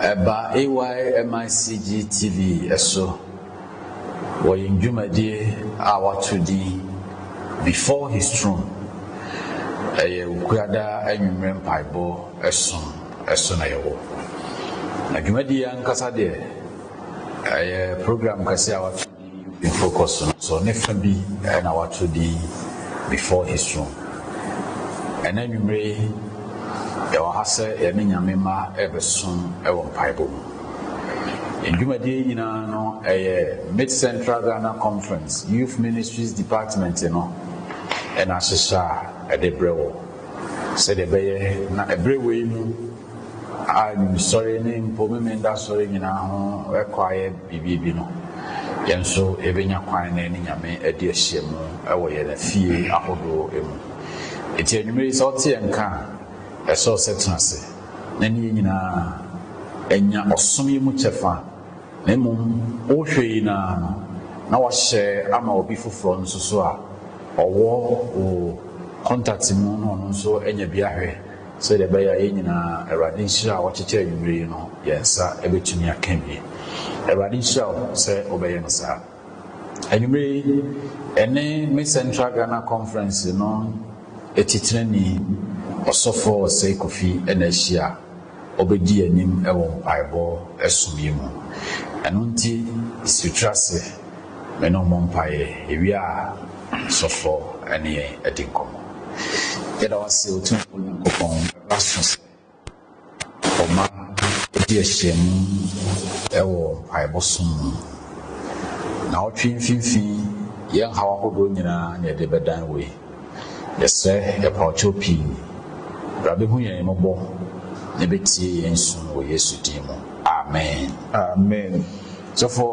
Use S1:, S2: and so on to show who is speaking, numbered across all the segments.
S1: Ɛba AYMICG TV so wɔ yɛn dwumadie a wɔato din Before His Throne. Ɛyɛ Wukuada anwummerɛ mpaebɔ som so na yɛwɔ. Na dwumadie yi ankasa deɛ, ɛyɛ program kɛseɛ a wɔato. Focus no so ne fa bi na wɔato din Before His Throne. Ɛnnɛ anwummere yi, yɛwɔ ha sɛ yɛne Nyame mma rebɛsom wɔ mpaebɔ mu. Yɛn dwumadie yi nyinaa no, ɛyɛ Mid-Central Ghana Conference Youth Ministries Department no na ahyehyɛ a ɛde brɛ wo sɛdeɛ ɛbɛyɛ na ɛberɛ wei mu, a Sɔre ne mpo Memeneda Sɔre nyinaa ho kɔ ayɛ biribi bi no, yɛn nso yɛbɛnya kwan na yɛne Nyame adi ahyiamu wɔ yɛn afie ahodoɔ mu. Enti anwummerɛ yi sɛ wote yɛn nka a, ɛsɛ wo sɛ tena ase na ne yɛn nyinaa nya ɔsom yi mu kyɛfa, na mmom wohwɛ yi no ara no, na woahyɛ ama obi foforɔ nso so a ɔwɔ wo kɔntakte mu na ɔno nso anya bi ahwɛ. Sɛdeɛ ɛbɛyɛ a yɛn nyinaa, Awurade nhyira a ɔkyekyɛ anwummerɛ yi no, yɛn nsa bɛtumi aka bi. Awurade nhyira wo sɛ wobɛyɛ no saa. Anwummerɛ yi, ɛne me Central Ghana Conference no titenani, Ɔsɔfoɔ Osei Kofi na ahyia a ɔbɛdi yɛn anim wɔ mpaebɔ som yi mu. Ɛno nti, si tiri ase, me ne wo mmɔ mpaeɛ, yɛwie a, Ɔsɔfoɔ ne yɛn adi nkɔmmɔ. Yɛda wo ase, Otumfoɔ Nyankopɔn, ɛberɛ aso sɛ ɔma ɛdi ahyiamu wɔ mpaebɔ som mu. Na ɔtwe mfimfini yɛn haw ahodoɔ nyinaa na yɛde bɛdan wei. Yɛsrɛ yɛpaɔkyɛw pii, bra bɛhu yɛn mmɔbɔ na bɛtie yɛn su wɔ Yesu din mu. Amen. Amen
S2: sɔfo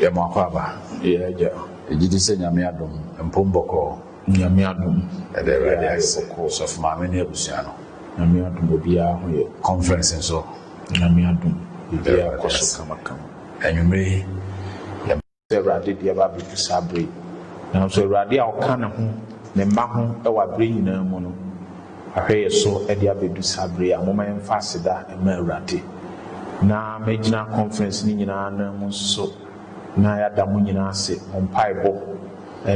S1: yɛ mo akwaaba. Yɛ agya.
S2: Yɛgyedi sɛ Nyame
S1: adom mpom bɔkɔɔ. Nyame adom
S2: ɛda awurade ase
S1: sɔfo maame ne abusua no Nyame adom obiaa
S2: ho yɛ conference nso
S1: Nyame adom
S2: biribiaa kɔ so kama kama anwumere
S1: yi
S2: yɛ sɛ awurade de ɛba abɛdu saa bere yi nanso awurade a ɔka ne ho ne mma ho wɔ abere nyinaa mu no ahwɛ yɛ so de abɛdu saa bere yi a momma yɛmfa aseda mma awurade na mɛgyina conference no nyinaa nan mu nso na yɛada mo nyinaa ase mo mpaebɔ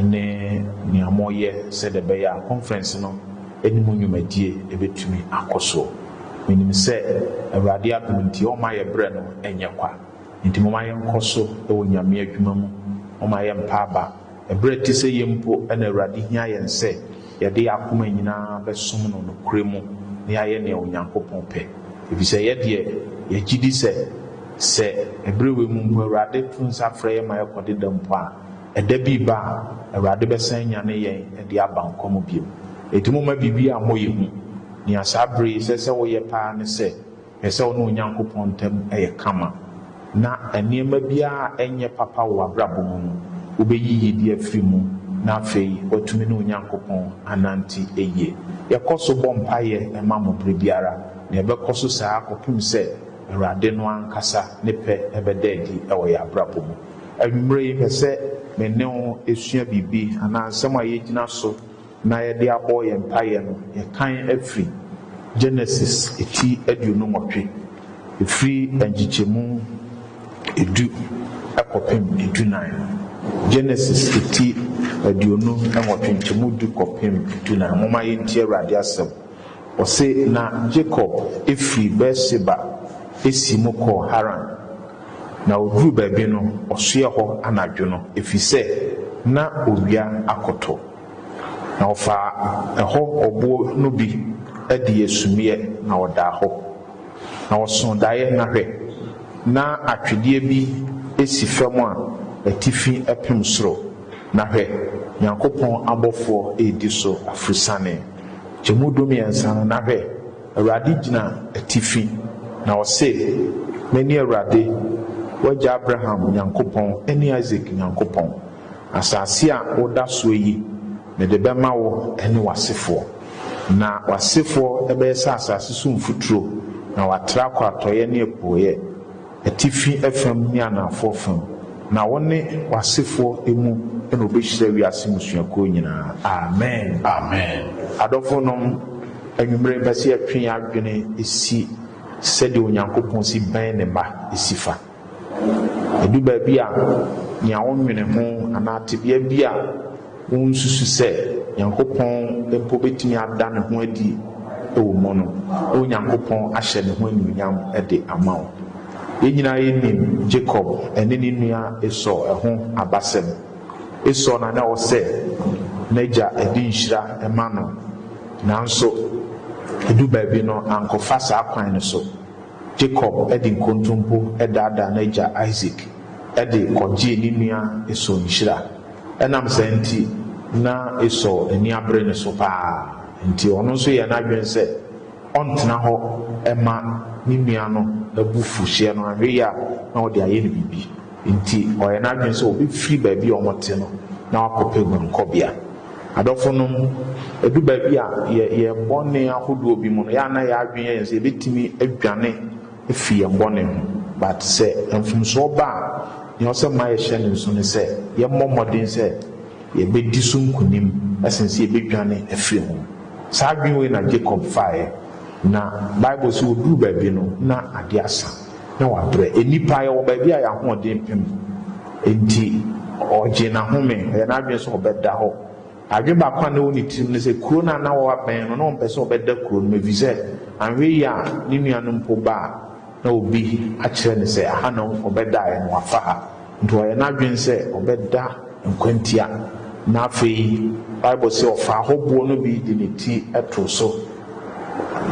S2: ne nea moreyɛ sɛdeɛ ɛbɛyɛ a conference no ne mo nnwumadie bɛtumi akɔ so. Menim sɛ Awurade adom nti ɔremma yɛn berɛ no nyɛ kwa, enti momma yɛnkɔ so wɔ Nyame adwuma mu, momma yɛmmpa aba. Berɛ te sɛ yei mpo na Awurade hia yɛn sɛ yɛde yɛn akoma nyina ara bɛsom no nokorɛ mu na yɛayɛ nea Onyankopɔn pɛ, ɛfiri sɛ yɛ deɛ yɛgyedi sɛ, sɛ berɛ wei mu mpo Awurade to nsa frɛ yɛn ma yɛkɔ deda mpo a, Ɛda bi reba a, Awurade bɛsan anyane yɛn de aba nkwa mu bio. Enti momma biribiara mmɔ yɛn hu. Nea saa bere yi ɛsɛ sɛ woyɛ paa ne sɛ, hwɛ sɛ wo ne Onyankopɔn ntam yɛ kama, na nneɛma biara a ɛnyɛ papa wɔ w'abrabɔ mu no, wubeyi gyidi afiri mu, na afei woatumi ne Onyankopɔn anante yie. Yɛkɔ so bɔ mpaeɛ ma mo bere biara, na yɛbɛkɔ so saa kɔpem sɛ Awurade no ankasa ne pɛ bɛda adi wɔ yɛn abrabɔ mu. Anwummere yi, mepɛ sɛ me ne wo sua biribi anaa nsɛm a yɛgyina so na yɛde abɔ yɛn mpaeɛ no, yɛkan afiri Genesis ti aduonu nwɔtwe, ɛfiri nkyekyɛmu edu kɔpem edunan no. Genesis ti aduonu nwɔtwe, nkyɛmu edu kɔpem edunan. Momma yɛntie Awurade asɛm. Ɔse, Na Jacob firi Beer-Seba siim kɔɔ Haran. Na ɔduruu baabi no, ɔsoɛɛ hɔ anadwo no, ɛfiri sɛ na owia akɔtɔ. Na ɔfaa ɛhɔ ɔboɔ no bi dii sumiiɛ, na ɔdaa hɔ. Na ɔsoo daeɛ, na hwɛ! na atwedeɛ bi si fam a atifi pem soro, na hwɛ! Nyankopɔn abɔfoɔ redi so aforosiane. Emu dumiɛnsa no, na hwɛ! Awurade gyina atifi, na ɔse, Mene Awurade, w'agya Abraham Nyankopɔn ne Isak Nyankopɔn. Asase a woda soɔ yi, mede bɛma wo ne w'asefoɔ. Na w'asefoɔ bɛyɛ sɛ asase so mfuturo, na wɔatra kɔ atɔeɛ ne apueɛ. Atifi fam ne anaafoɔ fam, na wo ne w'asefoɔ mu na ɔbɛhyira wiase mmusuakuo nyinaa. Amen. Amen.
S1: Adɔfonom,
S2: anwumerɛ mepɛ sɛ yɛtwe yɛn adwene si sɛdeɛ Onyankopɔn si bɛn Ne mma si fa. Ɛdu baabi a, nea wonwene ho anaa tebea bi a Wonsusu sɛ Nyankopɔn mpo betumi ada ne ho adi wɔ mu no, na Onyankopɔn ahyɛ ne ho anuonyam de ama wo. Yɛn nyinaa yenim Jacob ne ne nua Esau ho abasɛm. Esau na na ɔsɛ n'agya de nhyira ma no, nanso edu baabi no ankɔfa saa kwan no so. Jacob de nkontompo daadaa n'agya Isak de kɔgyee ne nua Esau nhyira. Ɛnam saa nti, na Esau ani abere ne so paa. Enti ɔno nso yɛɛ n'adwene sɛ ɔntena hɔ mma ne nua no abufuhyeɛ no anwe yɛ a na ɔde ayɛ no biribi. Enti ɔyɛɛ n'adwene sɛ ɔbɛfiri baabi a wɔte no na wakɔpɛ guankɔbea. Adɔfonom, ɛdu baabi a yɛ yɛn bɔne ahodoɔ bi mu no, yɛ a na yɛn adwene yɛ yɛn sɛ yɛbɛtumi adwane. fi yɛn bɔne ho. But sɛ mfomsoɔ ba a, nea ɔsɛ mma yɛhyɛ no nso ne sɛ yɛmmɔ mmɔden sɛ yɛbɛdi so nkonim sen sɛ yɛbɛdwane afiri ho. Saa adwene wei na Jacob faeɛ, na Bible se ɔduruu baabi no, na adeɛ asa, na wabrɛ. Nnipa, yɛwɔ baabi a yɛn ahoɔden pem, enti ɔgyee n'ahome, ɔyɛ n'adwene sɛ ɔbɛda hɔ. Adwene baako a na ɛwɔ ne tirim ne sɛ kuro no a na wɔabɛn no, na ɔmpɛ sɛ ɔbɛda kuro no mu efisɛ anhwɛ yie a ne nua no mpo ba a, na obi akyerɛ no sɛ aha na ɔbɛdaeɛ no wafa ha. Enti wayɛ n'adwene sɛ ɔbɛda nkwantia, na afei Bible se ɔfaa hɔ boɔ no bi de ne ti too so.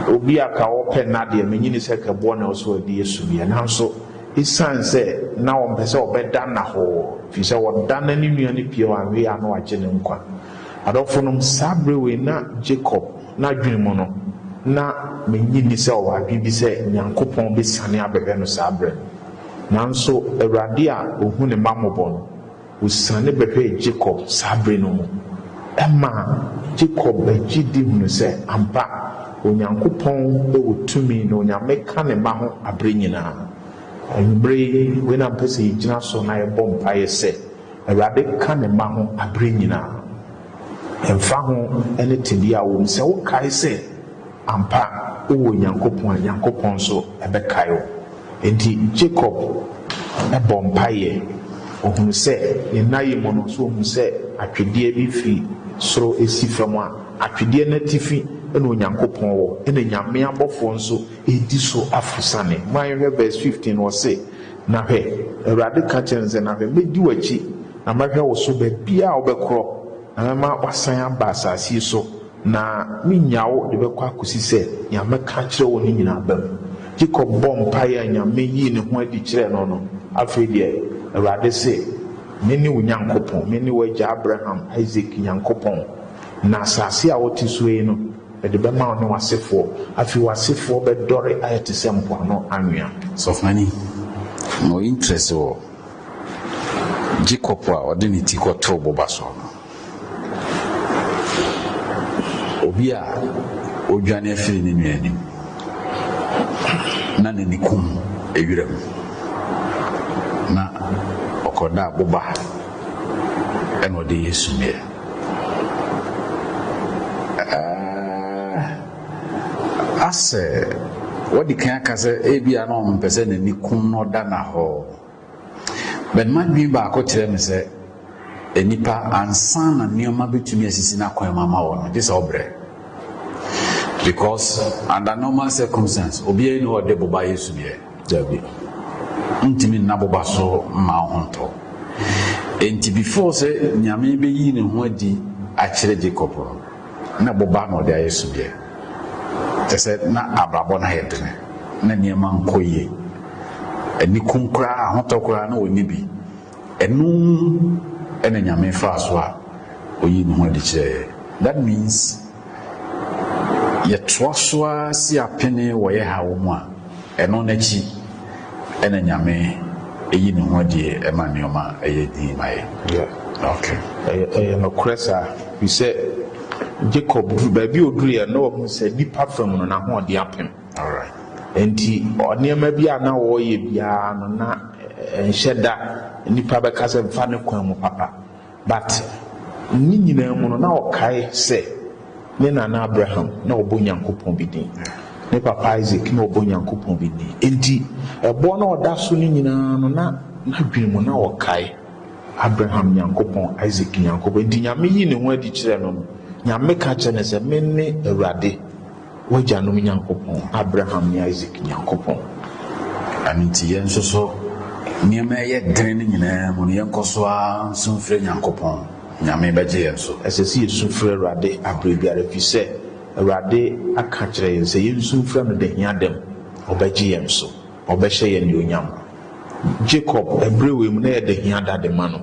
S2: Obi a ka ɔpɛ nna deɛ, megye ni sɛ ka boɔ na ɛwɔ sɛ ɔde yɛ suneɛ. Nanso, Esiane sɛ na ɔmpɛ sɛ ɔbɛda Nahor, efisɛ ɔda na ne nua no pue a wanwe a na wagye ne nkwa. Adɔfonom, saa bere wei na Jacob n'adwene mu no, na minnye nni sɛ ɔwɔ adwene bi sɛ Nyankopɔn besiane abɛhwɛ no saa bere no. Nanso Awurade a ohu ne mma mmɔbɔ no, Osiane bɛhwɛɛ Jacob saa bere no mu, ɛmaa Jacob gye di hunu sɛ ampa, Onyankopɔn wɔ tumi na Onyame ka ne mma ho bere nyinaa. Anwummere yi, wei na mepɛ sɛ yɛgyina so na yɛbɔ mpaeɛ sɛ, Awurade ka ne mma ho bere nyinaa. Ɛmfa ho ne tebea a wɔwɔ mu, sɛ wokae sɛ, Ampa, wowɔ Onyankopɔn a, Nyankopɔn nso bɛkae wo. Enti Jacob bɔɔ mpaeɛ. Ɔhunuu sɛ, ne nna yi mu no, nso ɔhunuu sɛ atwedeɛ bi firi soro resi fam a atwedeɛ no atifi na Onyankopɔn wɔ, ɛna Nyame abɔfoɔ nso redi so aforosiane. Momma yɛnhwɛ verse fifteen, ɔse, Na hwɛ, Awurade ka kyerɛɛ no sɛ, Na hwɛ, mɛdi w'akyi, na mɛhwɛ wo so baabiara a wobɛkorɔ, na mɛma woasan aba asaase yi so, Na menya wo de bɛkɔ akosi sɛ nea mɛka akyerɛ wo no nyinaa bam. Jacob bɔɔ mpae a Nyame yii ne ho adi kyerɛɛ no no, Afei deɛ, Awurade se, Mene wo Nyankopɔn, mene w'agya Abraham, Isak, Nyankopɔn, na asase a wote soɔ yi no, mede bɛma wo ne w'asefoɔ. Afei w'asefoɔ bɛdɔre ayɛ te sɛ mpoano anwea. Sɔfomani
S1: no interest wɔ Jacob a ɔde ne ti kɔtoo boba soɔ no. Obi a ɔredwane afiri ne nua anim na n'ani kum wiram na ɔkɔdaa boba ɛna ɔde yɛ sumiiɛ. Asɛ wɔde kan aka sɛ ebia na ɔmpɛ sɛ n'ani kum na ɔda no ahɔ. But m'adwene baako kyerɛ me sɛ nnipa ansa na nneɛma bɛtumi asisi n'akwan mu ama wɔn no gye sɛ ɔbrɛ because under normal circumstance obiara ni ɔde boba yɛ sudeɛ dabi ntumi nna boba so mma ho ntɔ enti before sɛ nyame bɛyi ne ho adi akyerɛ Jacob no Nna boba na ɔdze ayɛ sudeɛ. Kyerɛ sɛ, na abrabɔ no ayɛ den. Nna nneɛma nnkɔ yie. Anikum koraa, ahotɔ koraa, na ɔnni bi. Ɛno na Nyame faa so a ɔyii ne ho adi kyerɛɛ yɛn. That means, yɛtoa so ara si apene wɔ yɛn haw mu a, ɛno n'akyi. Ɛna Nyame yi ne ho adie ɛma nneɛma ɛyɛ dinn ma yɛn. Yeah. Okay. Ɛyɛ, ɛyɛ
S2: nokorɛ saa. Firi sɛ Jacob duru baabi a ɔduruiɛ no na wahunu sɛ nipa fam no n'ahoɔden apem. Alright.
S1: Enti
S2: nneɛma bi a na ɔreyɛ biara no na ɛnhyɛ da nipa bɛka sɛ mfa ne kwan mu papa. But ne nyinaa mu no na ɔkae sɛ ne nana Abraham na ɔbɔ Nyankopɔn bi din, ne papa Isaac na ɔbɔ Nyankopɔn bi din. Enti ɛbɔ na ɔda so no nyinaa no na n'adwene mu na ɔkae Abraham Nyankopɔn, Isaac Nyankopɔn. Enti Nyame yii ne ho adi kyerɛɛ no no, Nyame ka kyerɛɛ no sɛ, Mene Awurade. W'agyanom Nyankopɔn, Abraham ne Isak Nyankopɔn. Ɛno
S1: nti, yɛn nso so, nneɛma a ɛyɛ den no nyinaa mu no, yɛnkɔ so ara nsu mfrɛ Nyankopɔn. Nyame bɛgye yɛn so. Ɛsɛ sɛ yesu frɛ
S2: Awurade bere biara, efisɛ Awurade aka akyerɛ yɛn sɛ yensu mfrɛ no da hiada mu, ɔbɛgye yɛn so. Ɔbɛhyɛ yɛn anuonyam. Jacob, bere wei mu, na ɛyɛ dɛ hia da de ma no.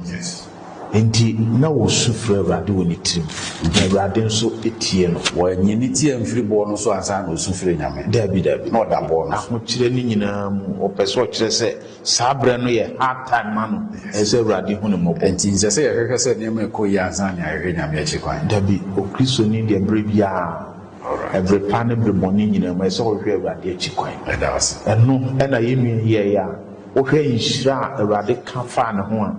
S2: Enti na osu frɛ Awurade wɔ ne tirim, na Awurade nso tiee no. Wannye ne ti amfiri
S1: boɔ no so ansa na osu frɛɛ Nyame? Dabi, dabi. Na ɔda boɔ
S2: no so.
S1: Ahokyerɛ no nyinaa
S2: mu, ɔpɛ sɛ ɔkyerɛ sɛ saa berɛ no yɛ hard time ma no. Ɛsɛ sɛ Awurade hu no mmɔbɔ. Enti nsɛ sɛ yɛhwehwɛ sɛ
S1: nneɛma rekɔ yie ansa na yɛahwehwɛ Nyame akyi kwan. Dabi, Okristoni
S2: deɛ berɛ biara Bere pa ne bere bɔne nyinaa mu, ɛsɛ sɛ wohwehwɛ Awurade akyi kwan. Ɛno
S1: na yɛn nua
S2: yi yɛe a wohwɛ nhyira a Awurade ka faa ne ho a,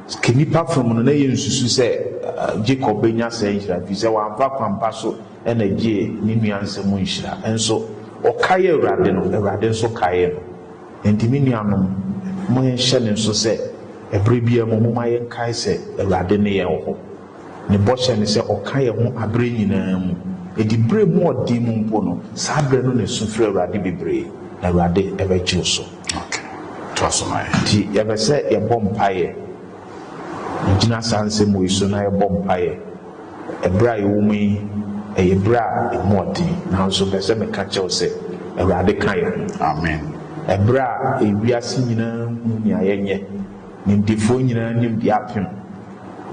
S2: sɛ nnipa fam no na yensusuw sɛ Jacob benya saa nhyira no, efisɛ wamfa kwampa so na egyee ne nua nsɛm mu nhyira. Nso, ɔkaee Awurade no, Awurade nso kaee no. Enti me nuanom, momma yɛnhyɛ no nso sɛ bere biara mu, momma yɛnkae sɛ Awurade ne yɛn wɔ hɔ. Ne bɔhyɛ ne sɛ ɔka yɛn ho aberɛ nyinaa mu, ɛdi berɛ mu ɔden mu mpo no, saa berɛ no na ɛsu frɛ Awurade bebree, na Awurade bɛgye wo so. Ok, toa so ma yɛn. Nti yɛpɛ sɛ yɛbɔ mpaeɛ, yɛgyina saa nsɛm wei so na yɛbɔ mpaeɛ. Ɛberɛ a yɛwɔ mu yi, ɛyɛ berɛ a ɛmu ɔden, nanso mepɛ sɛ meka kyerɛ wo sɛ Awurade ka yɛn ho. Amen. Ɛberɛ
S1: a
S2: ewiase nyinaa hunu nea yɛnyɛ, nimdefoɔ nyinaa nim deɛ apem.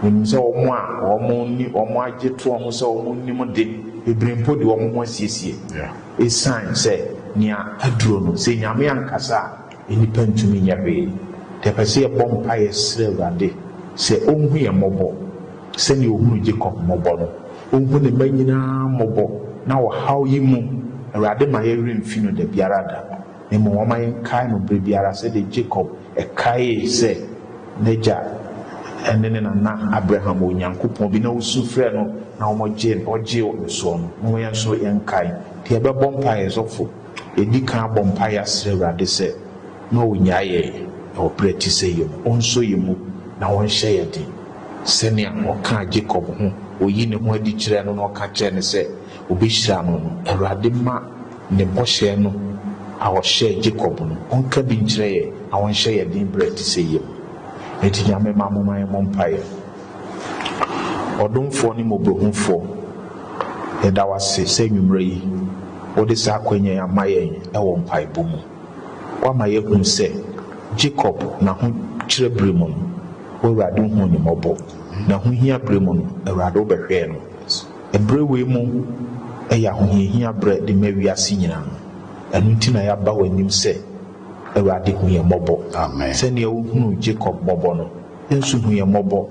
S2: Wɔnim sɛ wɔn a wɔne wɔn agye toɔ ho sɛ wɔn nnim de, bebree mpo de wɔn ho asiesie. Esiane sɛ nea aduro no, sɛ Nyame ankasa a, nnipa ntumi nyɛ hwee. Nti yɛpɛ sɛ yɛbɔ mpaeɛ srɛ Awurade sɛ Ɔnhu yɛn mmɔbɔ, sɛdeɛ Ɔhunuu Jacob mmɔbɔ no. Ɔnhu Ne mma nyinaa mmɔbɔ na ɔhaw yi mu, Awurade ma yɛn werɛ mfi No dabiara da, na mmom ɔma yɛnkae No berɛ biara sɛdeɛ Jacob Ɛkaee sɛ n'agya ne ne nana Abraham wɔ Onyankopɔn bi na wosu frɛɛ no na wɔgyee no, ɔgyee wɔn soɔ no. Momma yɛn nso yɛnkae deɛ yɛbɛbɔ mpaeɛ yɛ sɔfo, yɛdi kan abɔ mpaeɛ asrɛ Awurade sɛ ma ɔnnyae yɛn wɔ berɛ te sɛ yei mu, ɔnsɔ yɛn mu na ɔnhyɛ yɛn den sɛnea ɔkaa Jacob ho, ɔyii ne ho adi kyerɛɛ no na ɔka kyerɛɛ no sɛ ɔbɛhyira no no. Awurade mma. Ne bɔhyɛ no a ɔhyɛɛ Jacob no, ɔnka bi nkyerɛ yɛn na ɔnhyɛ yɛn den berɛ a ɛte sɛ yei mu. Enti Nyame mma momma yɛmmɔ mpaeɛ. Ɔdomfoɔ ne Mmɔborɔhunufoɔ, yɛda wo ase sɛ anwummerɛ yi wode saa akwanya yi ama yɛn wɔ mpaebɔ mu. Woama yɛahunu sɛ Jacob n'ahokyerɛ berɛ mu no, W'Awurade huu no mmɔbɔ. N'ahohia berɛ mu no, Awurade wobɛhwɛɛ no. Bere wei mu yɛ ahohiahia bere de ma wiase nyinaa. Ɛno nti na yɛaba w'anim sɛ, Awurade, hu yɛn mmɔbɔ. Sɛnea wuhunuu Jacob mmɔbɔ no, yɛn nso hu yɛn mmɔbɔ.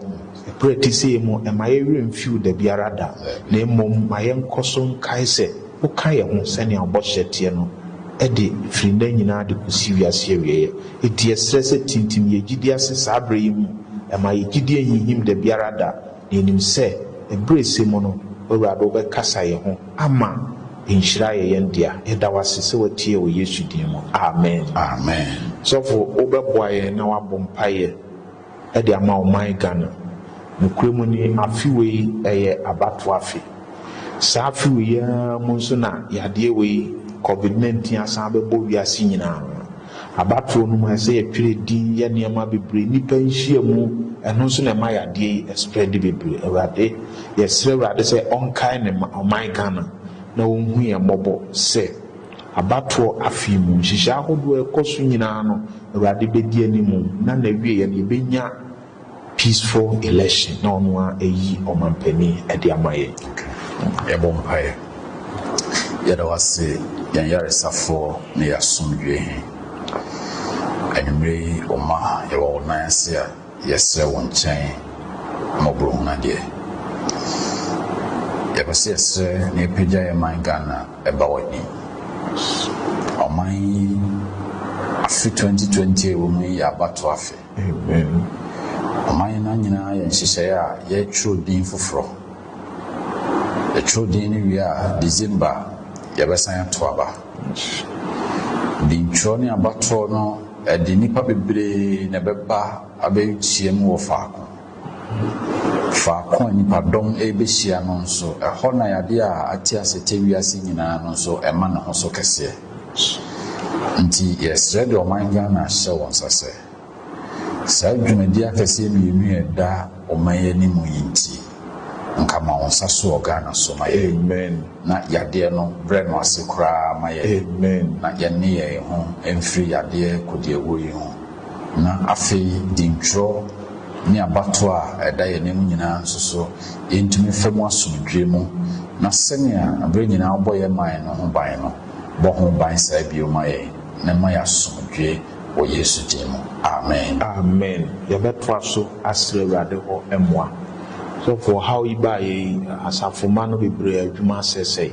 S2: Bere a ɛte sɛɛ mu, mma yɛn werɛ mfiw da biara da, na mmom ma yɛnkɔ so nkae sɛ woka yɛn ho sɛnea wo bɔhyɛ teɛ no, ɛde, firi nnɛ nyinaa de kosi wiase awieeɛ. Enti yɛsrɛ sɛ tintim yɛn gyidie ase saa bere yi mu, mma yɛn gyidie nhinhim da biara da. Na yɛnim sɛ ɛberɛsɛ mu no w'Awurade wobɛkasa yɛ ho ama nhyira ayɛ yɛn dea. Yɛda w'ase sɛ watie wɔ Yesu din mu. Amen. Amen. Sɔfo wobɛboa yɛn na wabɔ mpaeɛ de ama ɔman Ghana. Nokorɛ mu ni, afe wei ɛyɛ abatoɔ afe. Saa afe wei ara mu nso na yadeɛ wei, covid 19, asan abɛbɔ wiase nyinaa. Abatoɔ no mu ayɛ sɛ yɛtwerɛ din yɛ nneɛma bebree nnipa nhyia mu ɛno nso na ɛma yadeɛ yi spread bebree awurade yɛsrɛ awurade sɛ ɔnkae ne ma ɔman Ghana na ɔnhu yɛn mmɔbɔ sɛ abatoɔ afei mu nhyehyɛ ahodoɔ ɛkɔ so nyinaa no awurade bɛdi anim na nawieɛ no yɛbɛnya Peaceful election na ɔno ara ayi ɔmanpanin de ama yɛn. Yɛbɔ
S1: mpaeɛ. Yɛda wo ase yɛn yaresafoɔ ne yɛn asomdwoeɛ He. Anwummerɛ yi wo mma yɛwɔ wo nan ase a yɛsrɛ wo nkyɛn mmɔborɔhunu adeɛ. Yɛpɛ sɛ yɛsrɛ na yɛpagya yɛn man Ghana ba w'anim. Ɔman yi afe 2020 a ɛwɔ mu yi yɛ abatoɔ afe. Amen. Ɔma yɛn no nyinaa yɛ nhyehyɛeɛ a yɛtwerɛ din foforɔ. Yɛtwerɛ din no wie a, December a, yɛbɛsan ato aba. Dintwerɛ ne abatoɔ no, ɛde nnipa bebree na ɛbɛba abɛhyiam wɔ faako. Faako a nnipadɔm rebehyia no nso, ɛhɔ na yadeɛ a ate ase tɛ wiase nyinaa no nso ɛma ne ho so kɛseɛ. Nti yɛsrɛ de ɔman Ghana hyɛ wo nsa sɛ, saa dwumadie akɛseɛ mmienu a ɛda ɔman yi anim yi nti, nka ma wo nsa so wɔ Ghana so ma yɛn na yadeɛ
S2: no
S1: brɛ no ase koraa ma yɛn na yɛnne
S2: yɛn ho
S1: mfiri yadeɛ kodiawuo yi ho. Na afei ntwerɛ ne abatoɔ a ɛda yɛn anim nyinaa nso so yɛntumi mfa mu asomdwoeɛ mu, na sɛnea berɛ nyinaa wobɔ yɛn man no ho ban no, bɔ ho ban saa bio ma yɛn, na ɛma yɛn asomdwoeɛ wɔ Yesu din mu. Amen. Amen.
S2: Yɛbɛtoa so asrɛ Awurade hɔ mmoa. Sɔfo, ɔhaw yi baa yɛn asafomma no bebree adwuma sɛesɛe.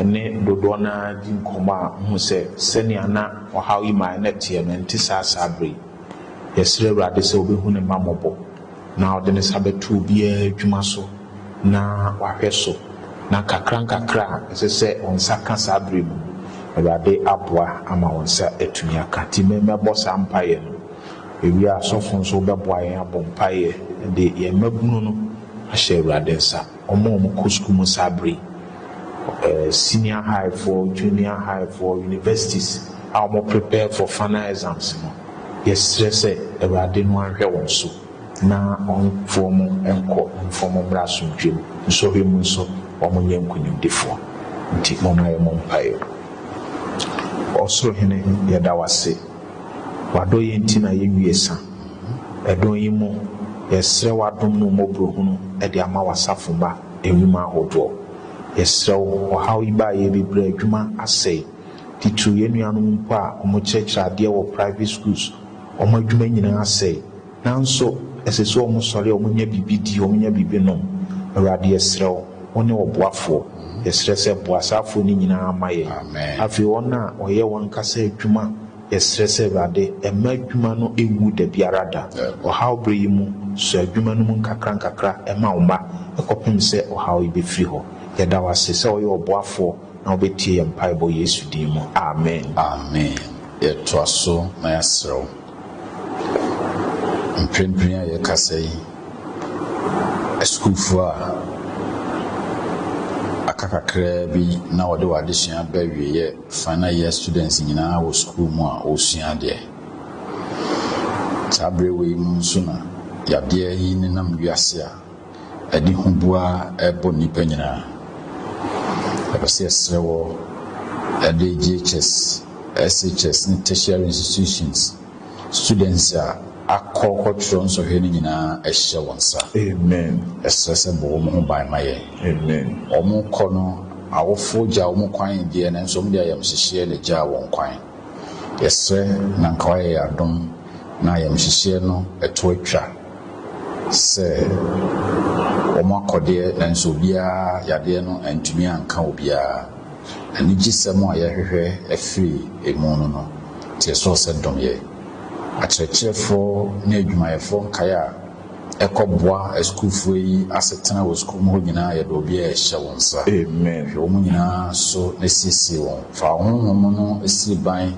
S1: ne dodoɔ no ara
S2: di nkɔmmɔ a, wohu sɛ sɛnea na ɔhaw yi mmaeɛ no ɛteɛ no, ɛnte saa saa berɛ yi. Yɛsrɛ Awurade sɛ ɔbɛhu ne mma mmɔbɔ, na ɔde ne nsa bɛto obiara adwuma so, na wahwɛ so, na nkakrankakra a ɛsɛ sɛ wo nsa ka saa berɛ mu no, Awurade aboa ama wo nsa atumi aka. Nti me mɛbɔ saa mpaeɛ no, ɛwie a asɔfo nso wobɛboa yɛn abɔ mpaeɛ de yɛn mmabunu no ahyɛ Awurade nsa. Wɔn a wɔkɔ sukuu mu saa bere yi, senior high foɔ, junior high foɔ, universities a wɔn prepare for final exams no, yɛsrɛ sɛ Awurade no nhwɛ wɔn so na ɔmfa wɔn nkɔ mfa wɔn mmra asomdwoeɛ mu. Nsɔhwɛ mu nso wɔn nyɛ nkonimdifoɔ. Nti moma yɛ mo mpaeɛ. Ɔsoro Hene yɛda wo ase. W'adɔyɛ nti na yɛnwie sa. Ɛdɔn yi mu, yɛsrɛ w'adom mu mmɔborɔhunu de ama w'asafo mma nnwuma ahodoɔ. Yɛsrɛ wo, ɔhaw yi baeɛ bi berɛ a adwuma asɛe, titiriw yɛn nuanom mpo a wɔkyerɛkyerɛ adeɛ wɔ private schools, wɔn adwuma nyinaa asɛe. Nanso ɛsɛ sɛ wɔsɔre a wɔnya biribi di, wɔnya biribi nom. Awurade, yɛsrɛ wo, wone ɔboafoɔ. Yɛsrɛ sɛ boa saa afoɔ no nyinaa ma yɛn. Afei wɔn a wɔyɛ wɔn ankasa adwuma, yɛsrɛ sɛ Awurade, mma adwuma no nwu da biara da. Ɔhaw berɛ yi mu, sɔ adwuma no mu nkakrankakra ma wo mma, kɔpem sɛ ɔhaw yi bɛfiri hɔ. Yɛda wo ase sɛ woyɛ ɔboafoɔ na wobɛtie yɛn mpaebɔ Yesu din mu. Amen. Amen.
S1: Yɛtoa so na yɛasrɛ wo. Mprempren a yɛrekasa yi, asukuufo a aka kakraa bi na wɔde wɔn adesua aba awiei yɛ final year students nyinaa wɔ sukuu mu a wɔresua adeɛ. Saa berɛ wei mu nso na yadeɛ yi nenam wiase a Ɛde huboa bɔ nnipa nyinaa. Yɛpɛ sɛ yɛsrɛ wɔ ɛde JHS, SHS ne tertiary institutions students a akɔ kɔtwerɛ nsɔhwɛ no nyinaa ɛhyɛ wɔn nsa. Amen.
S2: Yɛsrɛ sɛ bɔ wɔn
S1: ho ban ma yɛn. Amen. Wɔn
S2: rekɔ no,
S1: awofoɔ gyaa wɔn kwan deɛ nanso wɔn de ayamhyehyeɛ na ɛgyaa wɔn kwan. Yɛsrɛ na nka wayɛ yɛn adom na ayamhyehyeɛ no ɛto atwa. sɛ wɔn akɔdeɛ nanso obiara yadeɛ no antumi anka obiara. Anigyesɛm a yɛhwehwɛ afiri emu no no teɛ soɔ sɛ dom yɛ. Akyerɛkyerɛfoɔ ne adwumayɛfoɔ nkaeɛ a ɛkɔ boa asukuufoɔ yi asetena wɔ sukuu mu hɔ nyinaa yɛde obiara rehyɛ wo nsa. Amen. Hwɛ wɔn
S2: nyinaa
S1: so na siesie wɔn. Fa wo honhom no si ban.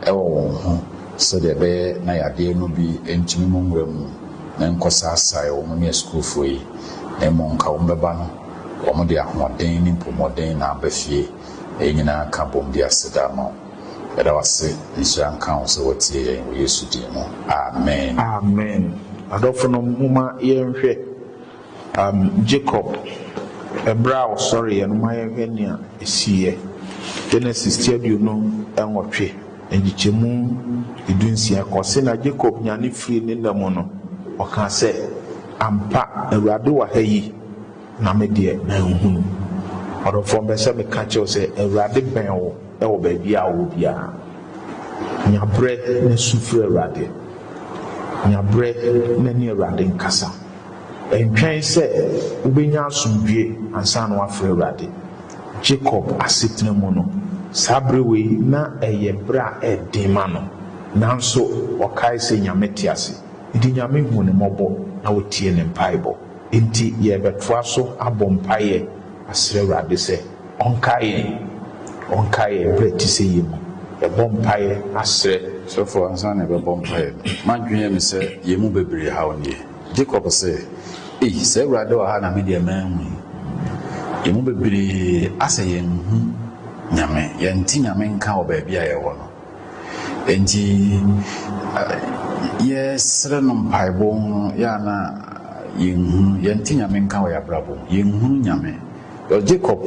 S1: wɔ wɔn ho sɛdeɛ ɛbɛyɛ na yadeɛ no bi ntumi mu nwura mu na nkɔsaasae wɔn ne asukuufoɔ yi, na mmom nka wɔn bɛba no, wɔde ahoɔden ne mpɔmɔden na aba fie. Na yɛn nyinaa ka bom de aseda ama wo. Yɛda wo ase, nhyira nka wo sɛ woatie yɛn, wɔ Yesu din mu, amen. Amen.
S2: Adɔfonom, momma yɛnhwɛ. um, Jacob, ɛberɛ a ɔsɔreeɛ no, ma yɛnhwɛ nea ɛsiiɛ, Genesis ti aduonu nwɔtwe, nkyekyɛmu dunsia kɔ se, Na Jacob nyane firii ne nna mu no, ɔkaa sɛ, Ampa, Awurade wɔ ha yi, na me deɛ manhunu. Ɔdɔfoɔ, mpɛ sɛ meka kyerɛ wo sɛ, Awurade bɛn wo wɔ baabi a wowɔ biara. Nya berɛ na su frɛ Awurade. Nya berɛ na ne Awurade nkasa. Ɛntwɛn sɛ wobɛnya asomdwoeɛ ansa na woafrɛ Awurade. Jacob asetena mu no, saa berɛ wei na ɛyɛ berɛ a ɛden ma no. Nanso ɔkae sɛ Nyame te ase, enti Nyame huu no mmɔbɔ na ɔtiee ne mpaebɔ. Enti yɛrebɛtoa so abɔ mpaeɛ asrɛ Awurade sɛ. Ɔnkae yɛn. Ɔnkae yɛn bere a ɛte sɛ yei mu. Yɛbɔ mpae asrɛ. Sɔfo ansa na
S1: ɛbɛbɔ mpaeɛ no, m'adwene ne sɛ yɛn mu bebree haw nie. Jacob se, Ei, sɛ Awurade wɔ ha na me deɛ manhu yi. Yɛn mu bebree asɛ yɛnhu Nyame, yɛnte Nyame nka wɔ baabi a yɛwɔ no. Enti yɛsrɛ no mpaebɔ no, yɛ a na yɛnhunu, yɛnte Nyame nka wɔ yɛn abrabɔ mu. Yɛnhunu Nyame. Wɔ Jacob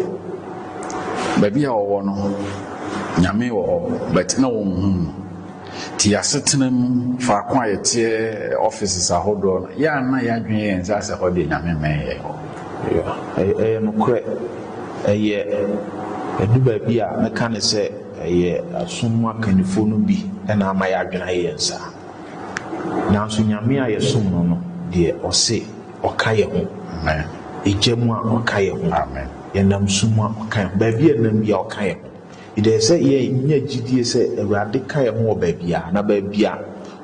S1: baabi a ɔwɔ no, Nyame wɔ hɔ but na wɔnhu no. Nti asetena mu faako a yɛteɛ offices ahodoɔ no, yɛ a na yɛadwene yɛn saa sɛ hɔ deɛ Nyame mmɛn yɛn hɔ. Yeah,
S2: ɛyɛ nokorɛ. Ɛyɛ ɛdu baabi a mɛka ne sɛ ɛyɛ asom mu akannifoɔ no bi na ama yɛadwene ayɛ yɛn saa. Nanso Nyame a yɛsom no no deɛ ɔse. Ɔka yɛ ho. Egya mu a, Ɔka yɛ ho. Yɛnam su mu a, Ɔka yɛ ho. Baabi a yɛnam biara, Ɔka yɛ ho. Yɛdɛ sɛ yɛ nya gyidie sɛ Awurade ka yɛ ho wɔ baabiara, na baabi a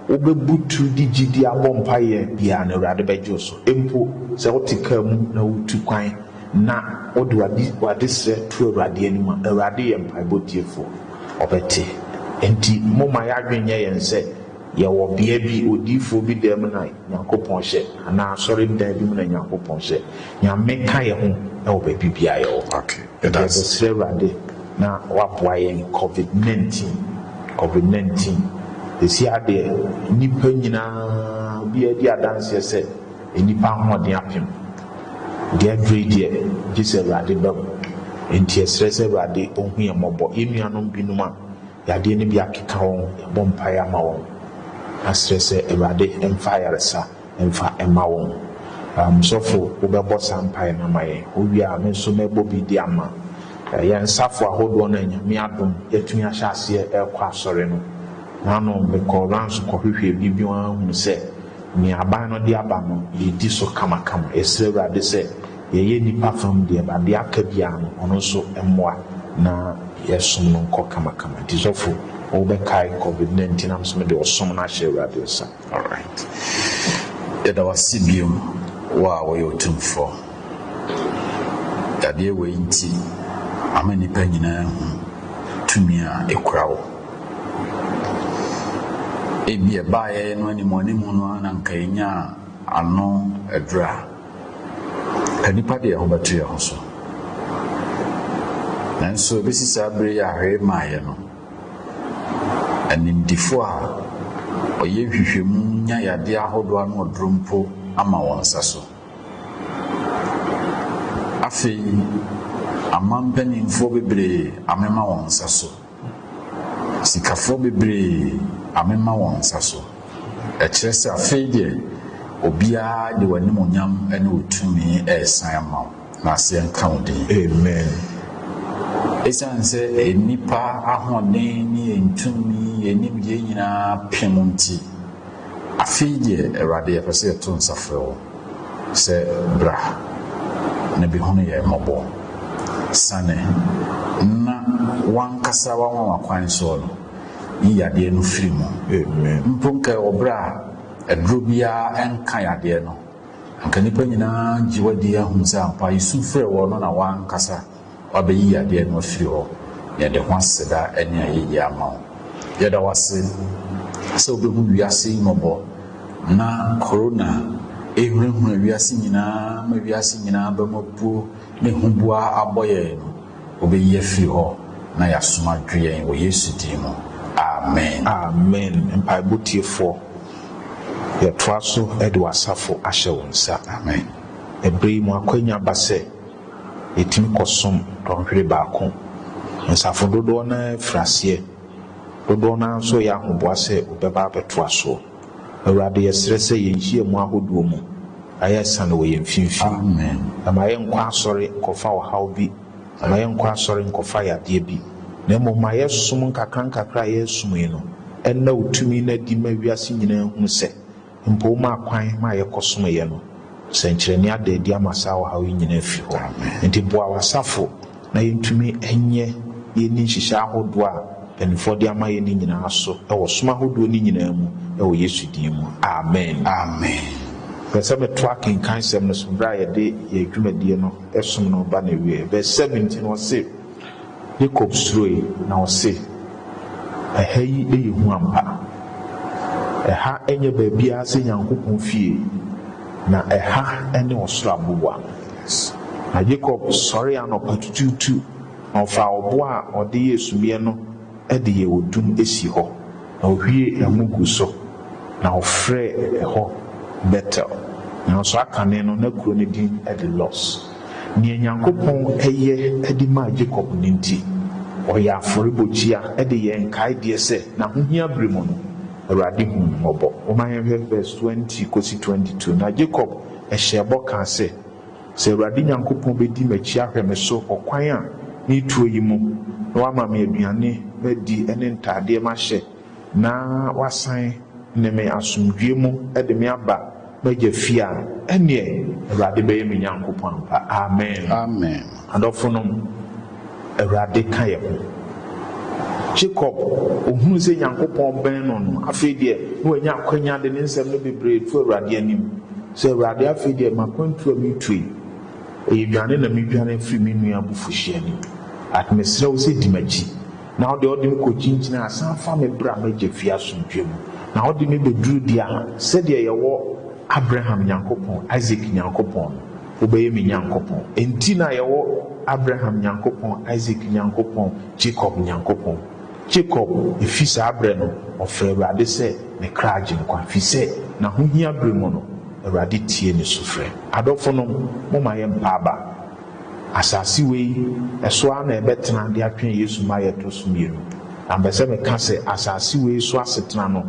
S2: wo bɛ butu de gyidie abɔ mpaeɛ biara no, Awurade bɛ gye wo so. Mpo sɛ wo te kaa mu na wo tu kwan na wo de w'ade srɛ to Awurade anim a, Awurade yɛ mpaebɔ tiefoɔ. Ɔbɛ te. Ɛnti mo ma yɛ adwene nyɛ yɛn sɛ Yɛwɔ bea bi, odiyifoɔ bi dan mu na Nyankopɔn hyɛ, anaa asɔredan bi mu na Nyankopɔn hyɛ. Nyame ka yɛ ho wɔ baabi biara yɛwɔ. Yɛde bɛsrɛ Awurade na waboa yɛn covid 19, covid 19. Sɛsi ara deɛ, nnipa nyinaa, obiara di adanseɛ sɛ nnipa ahoɔden apem. Deɛ aduru yi deɛ, gye sɛ Awurade ba mu. Enti yɛsrɛ sɛ Awurade ɔhu yɛn mmɔbɔ. Yɛn nuanom binom a, Yadeɛ no bi akeka wɔn, yɛbɔ mpaeɛ ama wɔn, asrɛ sɛ Awurade mfa ayaresa mfa mma wɔn. Um, sɔfo, wobɛbɔ saa mpaeɛ no ama yɛn? Wowie a, me nso mɛbɔ bi de ama. Uh, yɛn safo ahodoɔ no a Nyame adom, yɛatumi ahyɛ aseɛ ɛrekɔ asɔre no, naano mekɔɔ rounds kɔhwehwɛɛ bi bio ara hunu sɛ nea aban no de aba no, yɛdi so kamakama. Yɛsrɛ Awurade sɛ Yɛyɛ nnipa fam deɛ, but deɛ aka biara no, ɔno nso mmoa na yɛsom no nkɔ kamakama. Nti sɔfo, wo bɛkae covid na nti na me nso mede ɔsom no ahyɛ Awurade nsa. Alright.
S1: Yɛda wo ase bio, wo a woyɛ Otumfoɔ. Yadeɛ wei nti, ama nnipa nyinaa ahu tumi a ɛkura wo. Ebia ɛbaeɛ no animuanimu no ara na anka yɛnyaa ano aduru a. Nnipa de yɛn ho bɛto yɛn ho so. Nanso ebesi saa bere yi a hwee mmaeɛ no, animdefo a wɔyɛ nhwehwɛmu nya yadeɛ ahodoɔ ano aduro mpo ama wɔn nsa so. Afei, aman mpanimfoɔ bebree amema wɔn nsa so. Sikafoɔ bebree amema wɔn nsa so. Ɛkyerɛ sɛ afei deɛ obiara de w'animuonyam ne wo tumi resan ama wo, na aseɛ nka wo din. Amen. Esiane sɛ nnipa ahoɔden ne yɛn tumi, yɛn nimdeɛ nyinaa pem nti, afei deɛ, Awurade, yɛpɛ sɛ yɛto nsa frɛ wo. Sɛ bra, na behunu yɛn mmɔbɔ. Siane, na w'ankasa w'anwanwa kwan soɔ no, yi yadeɛ no firi mu. Amen. Mpo nka ɛwɔ berɛ a aduro biara ɛnka yadeɛ no, anka nnipa nyinaa gye wo adie ahunu sɛ ampa yɛsu frɛɛ woɔ no na w'ankasa W'abɛyi yadeɛ no afiri hɔ na yɛde ho aseda ne ayɛyie ama wo. Yɛda wo ase sɛ wobɛhu wiase yi mmɔbɔ na Corona ɛhunahuna wiase nyinaa ma wiase nyinaa bɛm apuo ne huboa abɔ yɛn no wobɛyi afiri hɔ na yɛasom adwo yɛn wɔ Yesu din mu. Amen. Amen
S2: mpaebɔ tiefoɔ yɛtoa so de w'asafo ahyɛ wo nsa. Amen
S1: ɛberɛ yi mu
S2: akwanya aba sɛ. yɛtumi kɔsom dɔnhwere baako. Nsafo dodoɔ no ara firi aseɛ, dodoɔ no ara nso reyɛ ahoboa sɛ wɔbɛba abɛtoa soɔ. Awurade, yɛsrɛ sɛ yɛn nhyiamu ahodoɔ mu, ma yɛ asiane wɔ yɛn mfimfini, na ma yɛ
S1: nkɔ
S2: asɔre nkɔfa ɔhaw bi, na ma yɛ nkɔ asɔre nkɔfa yadeɛ bi, na mmom ma yɛ som nkakrankakra a yɛresom yi no nna wo tumi no adi ma wiase nyinaa hunu sɛ Mpo ma akwan ma yɛkɔsom yɛ no sɛnkyerɛnne ada adi ama saa ɔhaw yi nyinaa afi hɔ. Enti boa w'asafo na yɛntumi nyɛ na yɛnni nhyehyɛe ahodoɔ a mpanimfoɔ de ama yɛn no nyinaa so wɔ som ahodoɔ no nyinaa mu wɔ Yesu din mu. Amen. Amen. Mepɛ
S1: sɛ metoa
S2: akenkansɛm no so berɛ a yɛde yɛn dwumadie no som no reba n'awieɛ. Verse seven nti no ɔse. Yakob suroe, na ɔse, Ɛha yi yɛ hu ampa. Ɛha nyɛ baabiara sɛ Nyankopɔn fie, na ɛha ne ɔsoro aboboa. Na Yakob sɔree anɔpa tutuutu, na ɔfaa ɔbo a ɔde yɛɛ sumiiɛ no de yɛɛ odum sii hɔ, na ɔhwiee ngo guu so, na ɔfrɛɛ ɛhɔ Betel, nanso aka ne no na kuro no din de Lus. Nea Nyankopɔn yɛ de maa Jacob no nti, ɔyɛ afɔrebɔkyia de yɛ nkaedeɛ sɛ n'ahohia bere mu no, Awurade huu no mmɔbɔ. Momma yɛnhwɛ vɛs 20 kɔsi 22. Na Jacob hyɛɛ bɔ kaa sɛ, Sɛ Awurade Nyankopɔn bɛdi m'akyi ahwɛ me so ɔkwan a meretuo yi mu, na wama me aduane madi ne ntaadeɛ mahyɛ, na wasan ne me asomdwoeɛ mu de me aba m'agya fie a, ɛnneɛ Awurade bɛyɛ me Nyankopɔn ampa. Amen. Amen. Adɔfonom, Awurade ka yɛn ho. Jacob, ɔhunu sɛ Nyankopɔn bɛn no no, afei deɛ na wanya akwanya de ne nsɛm no bebree to Awurade anim, sɛ Awurade afei deɛ makwantuo a meretuo yi, ɛyɛ dwane na medwane afiri me nua abufuhyeɛ anim. At mesrɛ wo sɛ di m'akyi. Na ɔde ɔde me kɔkyinkyini a, san fa me bra m'agya fie asomdwoeɛ mu. Na ɔde me bɛduru deɛ a, sɛdeɛ yɛwɔ Abraham Nyankopɔn, Isak Nyankopɔn no, wobɛyɛ me Nyankopɔn. Enti na yɛwɔ Abraham Nyankopɔn, Isak Nyankopɔn, Jakob Nyankopɔn. Jakob, ɛfiri saa berɛ no, ɔfrɛɛ Awurade sɛ ne kra agyenkwa, ɛfiri sɛ n'ahohia berɛ mu no, Awurade tiee ne sufrɛ. Adɔfonom, momma yɛmpa aba. Asase wei so ara na yɛbɛtena de atwɛn Yesu mma a yɛtɔ so mmienu. Na mepɛ sɛ meka sɛ asase wei so asetena no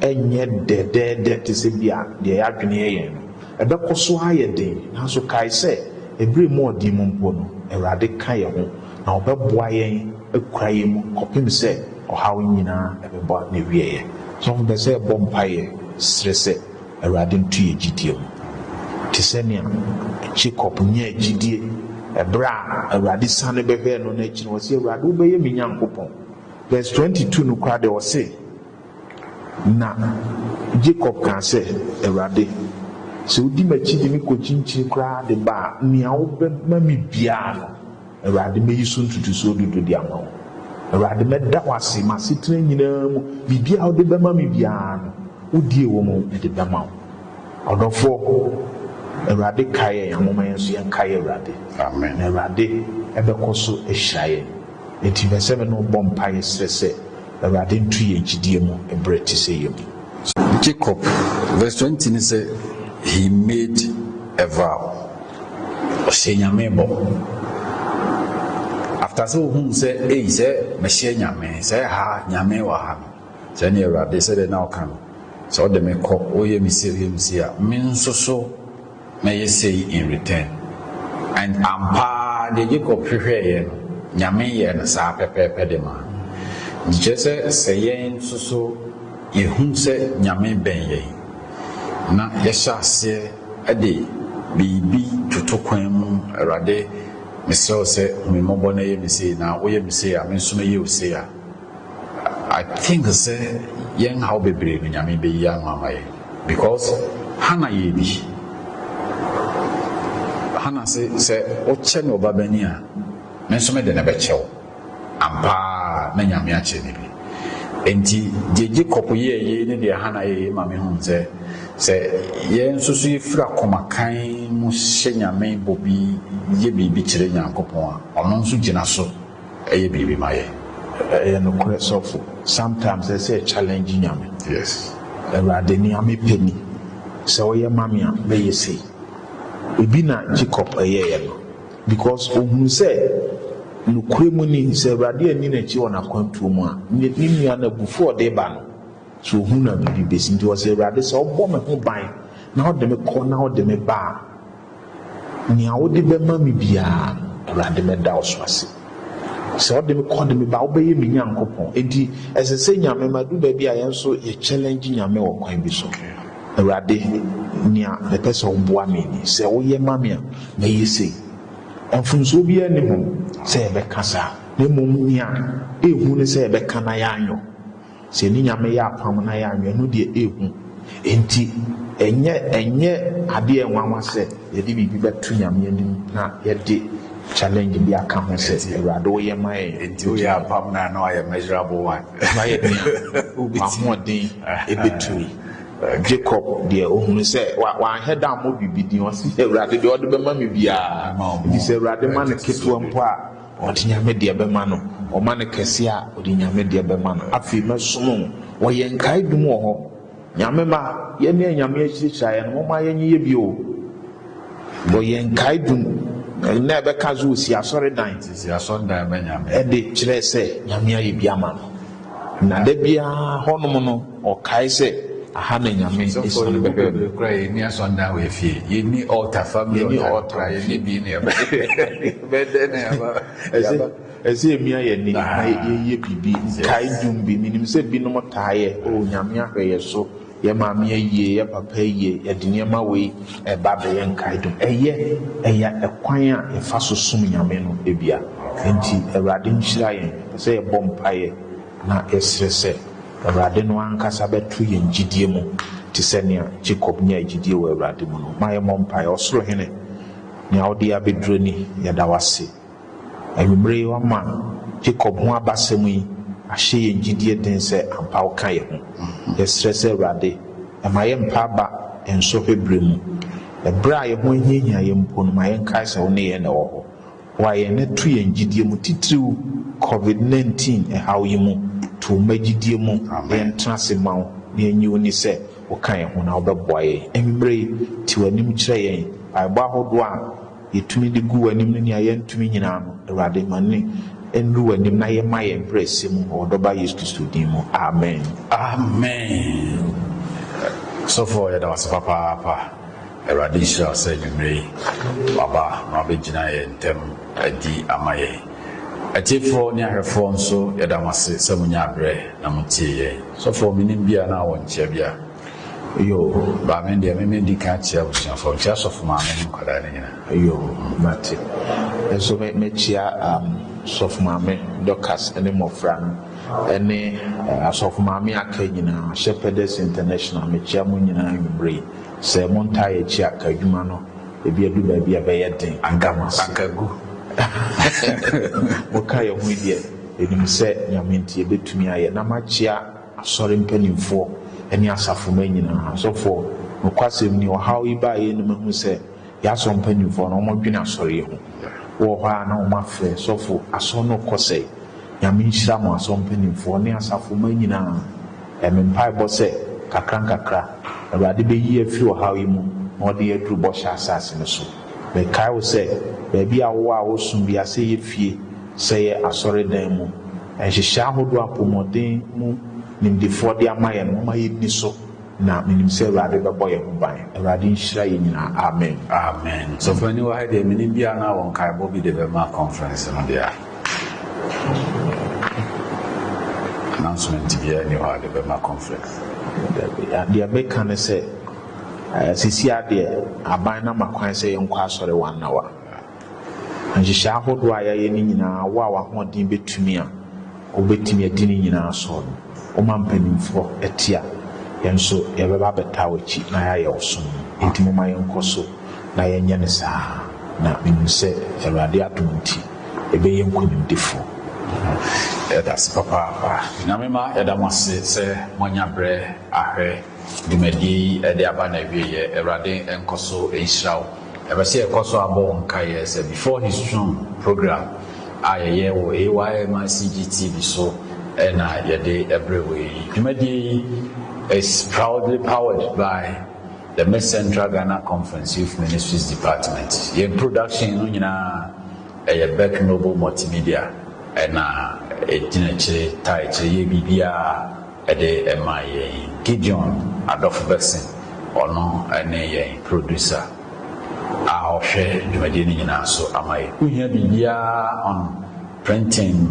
S2: nyɛ dɛdɛɛdɛ te sɛ bi a deɛ yɛadwene yɛ yɛn no. Ɛbɛkɔ so ara ayɛ den, nanso kae sɛ ɛberɛ mu ɔden mu mpo no, Awurade ka yɛn ho, na ɔbɛboa yɛn akura yɛn mu kɔpem sɛ ɔhaw yi nyinaa bɛba n'awieɛ. Asɔfo pɛ sɛ yɛbɔ mpaeɛ srɛ sɛ Awurade nto yɛn gyidie mu. Te sɛ nea Jacob nyaa gyidie ɛberɛ a Awurade sane bɛhwɛɛ no no akyi no, ɔse, Awurade wobɛyɛ me Nyankopɔn. Verse 22 no koraa deɛ ɔse, Na Jacob kaa sɛ, Awurade, sɛ wodi m'akyi de me kɔkyinkyini koraa de ba a, nea wobɛma me biara no, Awurade, mɛyi so ntotosoɔ dudu de ama wo. Awurade, mɛda wo ase m'asetena nyinaa mu. Biribiara a wode bɛma me biara no, wodie wɔ mu de bɛma wo. Ɔdɔfoɔ, Awurade kae yɛn a, momma yɛn nso yɛnkae Awurade. Amen. Na Awurade bɛkɔ so ahyira yɛn. Enti mɛsɛ me ne wo bɔ mpaeɛ serɛ sɛ Awurade nto yɛn gyidie mu berɛ te sɛ yei mu. Jacob,
S1: verse twenty no sɛ, He made a vow, ɔhyɛɛ Nyame bɔ. After sɛ ohuu sɛ, ei, sɛ mehyɛ Nyame, sɛ ha, Nyame wɔ ha no, sɛ ne Awurade, sɛdeɛ na ɔka no, sɛ ɔde me kɔ, ɔyɛ me sei, ɔyɛ me sei a, me nso so, mɛyɛ sei in return. And ampa ara deɛ Jacob hwehwɛeɛ no, Nyame yɛɛ no saa pɛpɛɛpɛ de maa no. Nti kyerɛ sɛ, sɛ yɛn nso so yɛhu sɛ Nyame bɛn yɛn, na yɛhyɛ aseɛ de biribi toto kwan mu, Awurade, mesrɛ wo sɛ hu me mmɔbɔ na yɛ me sei, na woyɛ me sei a, me nso mɛyɛ wo sei a, I think sɛ yɛn haw bebree no Nyame bɛyi ano ama yɛn because Hannah yɛ bi. Hannah se sɛ wokyɛ me ɔbabanin a, me nso mede no bɛkyɛ wo. Ampa ara na Nyame akyɛ no bi. Enti deɛ Jacob yɛɛ yei ne deɛ Hannah yɛɛ yei ma me hunu sɛ, sɛ yɛn nso so yɛfiri akoma kann mu hyɛ Nyame bɔ bi yɛ biribi kyerɛ Nyankopɔn a, ɔno nso gyina so. Ɛyɛ biribi ma yɛ. Ɛyɛ nokorɛ
S2: sɔfo. Sometimes ɛsɛ sɛ yɛ challenge Nyame. Yes.
S1: Awurade nea
S2: me pɛ ni. Sɛ wo yɛ ma me a mɛ yɛ sei. Ebi na Jacob yɛ yɛ no. Because ohunu sɛ nokorɛ mu ni sɛ Awurade anni n'akyi wɔ n'akwantuo mu a, ne ne nua no abufuo a ɔde ba no so ohunu a biribi bɛsi. Nti ɔse Awurade sɛ wo bɔ me ho ban na wo de me kɔ na wo de me ba a, Nea wode bɛma me biara, Awurade, mɛda wo so ase. Sɛ wode me kɔ de me ba, wobɛyɛ me Nyankopɔn. Enti ɛsɛ sɛ Nyame ma ɛdu baabi a yɛn nso yɛ challenge Nyame wɔ kwan bi so. Awurade, nea mepɛ sɛ woboa me ni. Sɛ woyɛ ma me a, mɛyɛ sei. Mfomsoɔ biara nni ho sɛ yɛbɛka saa, na mmom nea ɛyɛ hu ne sɛ yɛbɛka na yɛanyɔ. Sɛ ne Nyame yɛ apam na yɛanwɛn, ɛno deɛ ɛyɛ hu. Enti ɛnyɛ ɛnyɛ adeɛ a ɛnwanwa sɛ yɛde biribi bɛto Nyame anim na yɛde challenge bi aka ho sɛ, Awurade woyɛ ma yɛn. Enti woyɛ apam no a,
S1: na wayɛ measurable one. Wayɛ nea
S2: w'ahoɔden ɛbɛtumi. Jacob deɛ ɔhunu sɛ wanhwɛ da ammɔ biribi din, ɔse Awurade deɛ ɔde bɛma me biara, enti sɛ Awurade ma no ketewa mpo a, Ɔde Nyame deɛ bɛma no. Ɔma no kɛseɛ a, ɔde Nyame deɛ bɛma no. Afei mɛsom wo. Wɔyɛ nkaedum wɔ hɔ. Nyame mma, yɛne anyame akyirakyira yɛn no, momma yɛnyeyɛ bi o. Wɔyɛ nkaedum. Nnɛ bɛka sɛ ɔsi asɔredan. Sisi asɔredan ma
S1: Nyame. Ɛde kyerɛ sɛ
S2: Nyame ayɛ bi ama no. Na da biara hɔnom no ɔkae sɛ, Aha na Nyame asiane bɛbaa
S1: mu. Sɔfo, yɛn nni asɔndan wɔ yɛn fie, yɛnni altar, family altar no koraa yɛnni bi ne yɛn ba. Bɛyɛ dɛn na yɛaba?
S2: Ɛsɛ yɛmia yɛn ani na yɛyɛ biribi, nkae dwom bi, menim sɛ binom taa yɛ, Oh, Nyame ahwɛ yɛn so. Yɛ maame ayie, yɛ papa ayie, yɛde nneɛma wei ɛba bɛyɛ nkaedum. Ɛyɛ, ɛyɛ ɛkwan a yɛfa so som Nyame no ebia. Enti Awurade nhyira yɛn. Ɛsɛ sɛ yɛbɔ mpaeɛ na yɛsrɛ sɛ Awurade no ankasa bɛto yɛn gyidie mu te sɛ nea Jacob nyaa gyidie wɔ Awurade mu no. Ma yɛmmɔ mpaeɛ. Ɔsoro Hene, nea wode yɛn abɛduru ni, yɛda wo ase. Anwummere yi woama Jacob ho abasɛm yi ahyɛ yɛn gyidie den sɛ ampa woka yɛn ho. Yɛsrɛ sɛ Awurade ma yɛn mpa aba yɛn sɔhwɛ berɛ mu. Ɛberɛ a yɛn ho ahiahia yɛn mpo no ma yɛnkae sɛ wo ne yɛn na ɛwɔ hɔ. Boa yɛn na tu yɛn gyidie mu titiriw Covid 19 ɛhaw yi mu. To wo mma gyidie mu na yɛntena ase mma wo na yɛnnye wo nni sɛ woka yɛn ho na wobɛboa yɛn. Anwummere yi te w'anim kyerɛ yɛn mpaebɔ ahodoɔ a. yɛtumi de gu w'anim ne nea yɛntumi nyinaa no, Awurade, ma no nnuru w'anim na yɛmma yɛn brɛ ɛsɛ mu wɔ wo Dɔba Yesu Kristo din mu. Amen. Amen.
S1: Sɔfoɔ yɛda wase papaapa. Awurade nhyira wo sɛ anwummerɛ yi waba na wabɛgyina yɛn ntam adi ama yɛn. Atiefoɔ ne ahwɛfoɔ nso yɛda mo ase sɛ monyaa berɛ na motie yɛn. Sɔfoɔ menim bi a na wɔ nkyea bi a Yoo
S2: ba me deɛ me
S1: medi kan akyia abusuafoɔ mekyia asɔfo maame ne nkwadaa no nyinaa yoo mate
S2: me nso me mekyia um, sɔfo maame Dorcas ne mmɔfra no ɛne uh, asɔfo maame aka nyinaa Shepherdess International mekyia mo nyinaa anwummere yi sɛ mo ntaa yɛ akyi aka adwuma no ebi adu baabi a ɛbɛyɛ den agama akagu moka yɛ ho deɛ ɛnim sɛ nyame nti yɛbɛtumi ayɛ na makyia Asɔre mpanimfoɔ ne asafo mma nyinaa, asɔfoɔ, nokwasɛm ni ɔhaw yi baa yɛn anim ahu sɛ yɛn asɔre mpanimfoɔ no wɔdwene asɔre yi ho. Wowɔ hɔ a na wɔn afrɛ sɔfo asɔre no rekɔ sɛe. Nyame nhyira mo asɔre mpanimfoɔ ne asafo mma nyinaa. Ɛyɛ me mpaebɔ sɛ nkakra nkakra Awurade bɛyi yɛn afiri ɔhaw yi mu na ɔde yɛn aduru bɔhyɛ asase no so. Mekae wo sɛ baabi a wowɔ a woresom biara sɛ ɛyɛ fie Sɛ yɛ asɔredan mu nhyehyɛe ahodoɔ apomɔden mu nimdefoɔ de ama yɛn no, momma yɛnni so, na menim sɛ Awurade bɛbɔ yɛn ho ban. Awurade nhyira yɛn nyinaa. Amen. Amen. Sɔfoani
S1: wɔ ha yi deɛ menim bi a na wɔ nkaebɔ bi de bɛma conference no deɛ a announcement biara nni hɔ a de bɛma conference. Dabi, deɛ
S2: meka ne sɛ, eh, sisi adeɛ aban no ama kwan sɛ yɛnkɔ asɔre one hour. Nhyehyɛe ahodoɔ a yɛayɛ no nyinaa, wo a w'ahoɔden bɛtumi a, wobɛtumi adi ne nyinaa so no, woma mpanimfoɔ te a, yɛn nso yɛbɛba abɛtaa w'akyi na yɛayɛ wo som. Enti momma yɛnkɔ so na yɛnyɛ no saa ara, na menim sɛ Awurade adom nti, yɛbɛyɛ nkonimdifoɔ.
S1: Yɛda ase papaapa. Nyame mma yɛda mo ase sɛ moanya berɛ ahwɛ dwumadie yi de aba n'awieɛ. Awurade nkɔ so nhyira wo. Yɛpɛ sɛ yɛkɔ so abɔ wo nkaeɛ sɛ Before His Throne program a yɛyɛ wɔ AYMICG TV so na yɛde brɛ wo yi. Dwumadie yi is proudly powered by the Miss Central Ghana Conference Youth Ministries Department. Yɛn production no nyinaa ɛyɛ Beck Noble Multimedia ɛna ɛgyina akyire taa akyire yɛ biribiara. Ɛde ma yɛn Gideon adɔfo Bergson, ɔno ne yɛn producer a ɔhwɛ dwumadie no nyinaa so ama yɛn. Wohia biribiara on printing,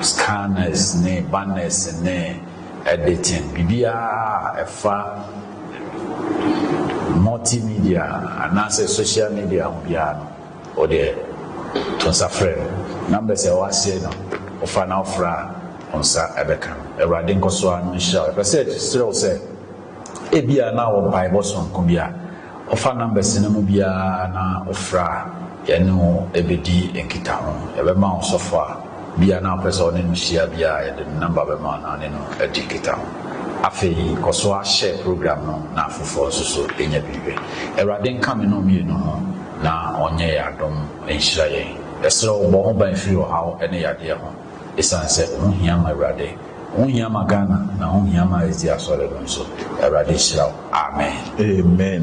S1: scanners ne banners ne editing, biribiara a ɛfa multimedia anaasɛ social media ho biara no, O deɛ, to nsa frɛ no, na mbrɛ sɛ ɔasee no, ɔfa na ɔfra a, wo nsa bɛka no. Awurade nkɔ so ara no nhyira wo. Yɛpɛ sɛ kyerɛ wo sɛ, ebia na wɔ mpaebɔ soronko bi a ɔfa na mbrɛ sɛ no mu biara na ɔfra a, yɛne wo bɛdi nkitaho. Yɛbɛma wo sɔfo a. Bi a na wopɛ sɛ ɔne no hyia bi a, yɛde ne nɔmba bɛma wo na wo ne no adi nkitaho. Afei kɔ so ara hyɛ program no na afoforɔ nso so nya bi hwɛ. Awurade nka me ne wo mmienu ho na ɔnyɛ yɛn adom nhyira yɛn. Yɛsrɛ wo bɔ ho ban firi ɔhaw ne yadeɛ ho, ɛsiane sɛ wo ho hia ma Awurade. Ho hia ma Ghana na ho hia ma SD Asɔre no nso. Awurade nhyira wo. Amen. Amen.